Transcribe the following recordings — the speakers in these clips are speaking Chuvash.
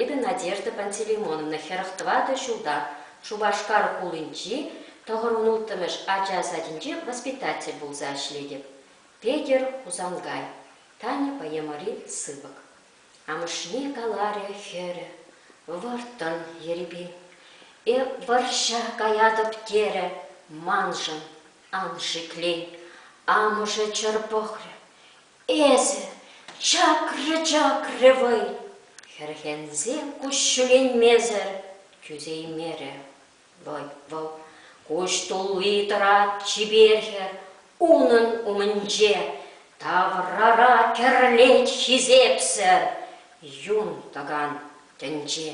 Эпӗ Надежда Пантелеймоновна хӗрӗх тӑватӑ ҫулта Шупашкар хулинчи тӑхӑрмӑн улттӑмӗш ача садӗнче воспитатель пулса ӗҫлетӗп. Петӗр Хусанкай, Таня поэмӑри сыпӑк. Амӑшне каларӗ хӗрӗ, Вӑрттӑн, ерипен, э вӑрҫа каятӑп терӗ, маншӑн ан шиклен. Амӑшӗ чӑр пӑхрӗ, Эсӗ, чакрӗ-чакрӗ вӑй, хӗрхенсе куҫҫӳленмесӗр тӳсеймерӗ вӑй вӑл. Куҫ тулли тӑрать чипер хӗр унӑн умӗнче, таврара кӗрлет хисепсӗр юн тӑкан тӗнче.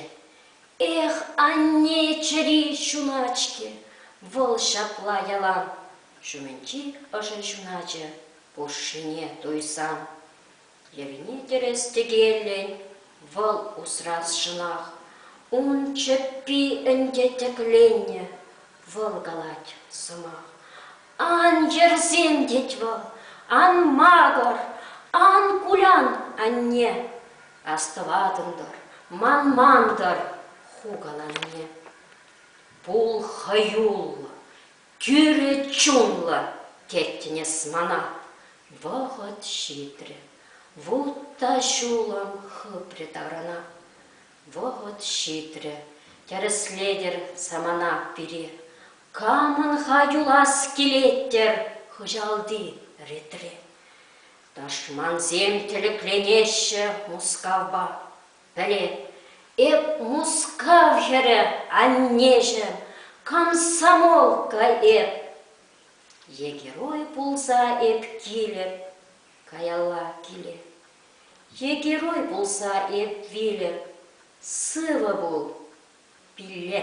Эх, анне чӗри ҫуначки, вӑл ҫапла ялан ҫумӗнчи ӑшӑ ҫуначӗ пушшине туйсан, йӗрне-тӗрес тӗкеллӗн вӑл усрасшӑнах, ун чӗппи ӗнтӗ тӗкленнӗ. Вӑл калать сӑмах. Ан йӗрсем, тет вӑл, ан макӑр, ан кулян, анне. Астӑватӑн-тӑр, манман-тӑр ху каланине. Пул хӑюллӑ, Тӳрӗ чунлӑ, теттӗн эс мана. Вӑхӑт ҫитрӗ, вут та ҫулӑм хыпрӗ тарӑна. Вӑхӑт ҫитрӗ, тӗрӗслетӗр самана пире. Камӑн-ха юлас килет-тӗр хыҫалти ретре? Тӑшмансем тӗлӗкленеҫҫӗ Мускавпа. Пӗле, эп Мускав хӗрӗ, аннеҫӗ, комсомолка эп. Е герой пулса эп килӗп каялла киле. Е герой пулса эп вилӗп, сывӑ пул, пилле.